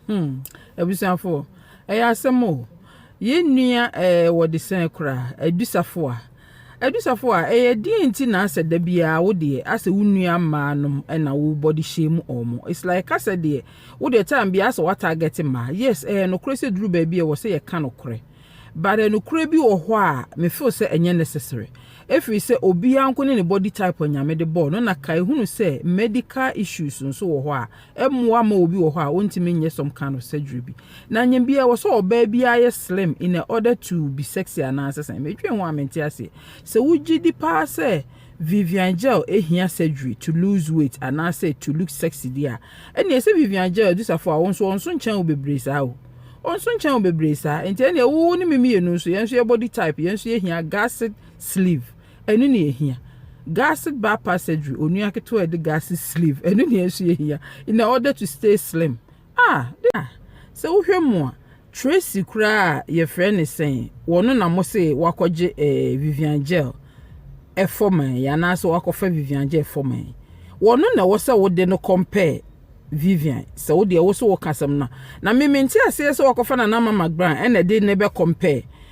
Hmm, abusuafo, ɛyɛ asɛm o! Yɛn nua eh, wɔde sɛn koraa? Adu Safoa. Adu Safoa, ɛyɛ deɛn nti na asɛ da biara wo deɛ asɛ wo nua mmaa nom na wo body shame wɔn? It's like kasɛ deɛ wo deɛ time biara asɛ wa target mmaa. Yes, ɛyɛ nokorɛ sɛ duru baabi ɛwɔ sɛ yɛka nokorɛ. But nokorɛ bi wɔ hɔ a me feel sɛ ɛnyɛ necessary. Ɛfiri sɛ obiara nko ne ne body type a Nyame de bɔɔ no na kae hunu sɛ medical issues nso wɔ hɔ a mmoa mma obi wɔ hɔ a ontumi nyɛ some kind of surgery bi na nyɛ bi ɛwɔ sɛ ɔbaa bi ayɛ slim in order to be sexy anaasɛ sɛn medwen ho a mente aseɛ sɛ wogye di paa sɛ Vivian Gel ehia surgery to lose weight anaasɛ to look sexy di a ɛnneɛ sɛ Vivian Gel adusafo a wɔn nso wɔn nso nkyɛn wo bebree saa o wɔn nso nkyɛn wo bebree saa nti ɛnneɛ wo ne me mmienu nso yɛn nso yɛ body type yɛn nso yɛhia gasset sleeve Ɛno na yɛhia. Gusset bra passageway, onua ketewa a yɛde gusset sleeve, ɛno na yɛn nso yɛhia in order to stay slim. Ah, de a, sɛ wohwɛ mu a, Tracy koraa a yɛfrɛ ne sɛn, wɔno na mo se wakɔgye eh, Vivian Gel ɛfɔ man yi, anaasɛ wakɔfa Vivian Gel ɛfɔ man yi. Wɔno na ɛwɔ sɛ wode no compare Vivian, sɛ wode ɛwɔ sɛ wɔka asɛm no a. Na me mente aseɛ sɛ wakɔfa Nana Mama Grant ɛna ɛde ne bɛ compare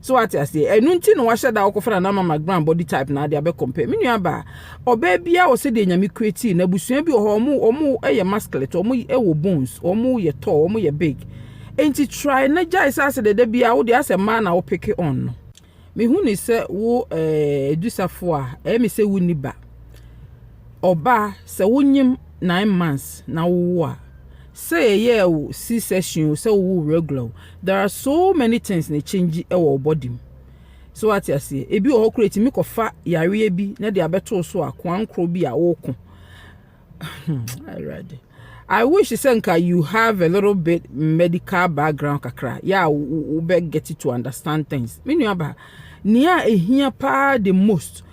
So wate aseɛ? Ɛno nti na wahyɛ da wɔkɔfa nana mama grand body type na ade abɛ compare. Me nua baa, ɔbaa biara wɔ sɛdeɛ nyame create na abusua bi wɔ hɔ ɔmo ɔmo yɛ masculine, ɔmo wɔ bones, ɔmo yɛ tall, ɔmo yɛ big. Enti try na gyae sɛ asɛ dɛdɛ biara wode asɛ mmaa na wo pick on no. Mehu ne sɛ wo eh, adusafo a, ɛyɛ me sɛ wonni ba. Ɔbaa, sɛ wonyem nine months na wowo a, sɛ yɛyɛɛ wo C-section o, sɛ wowo regular o, There are so many things na ɛkyɛngyi wɔ wo body mu. So wate aseɛ? Ebi wɔ hɔ koraa ɛtumi kɔfa yareɛ bi na de abɛtoo so a koankorɔ bi a woko. Awurade. I wish sɛ nka you have a little bit medical background kakra. Yeah, wobɛ get to understand things. Me nua ba, nea ɛhia paa the most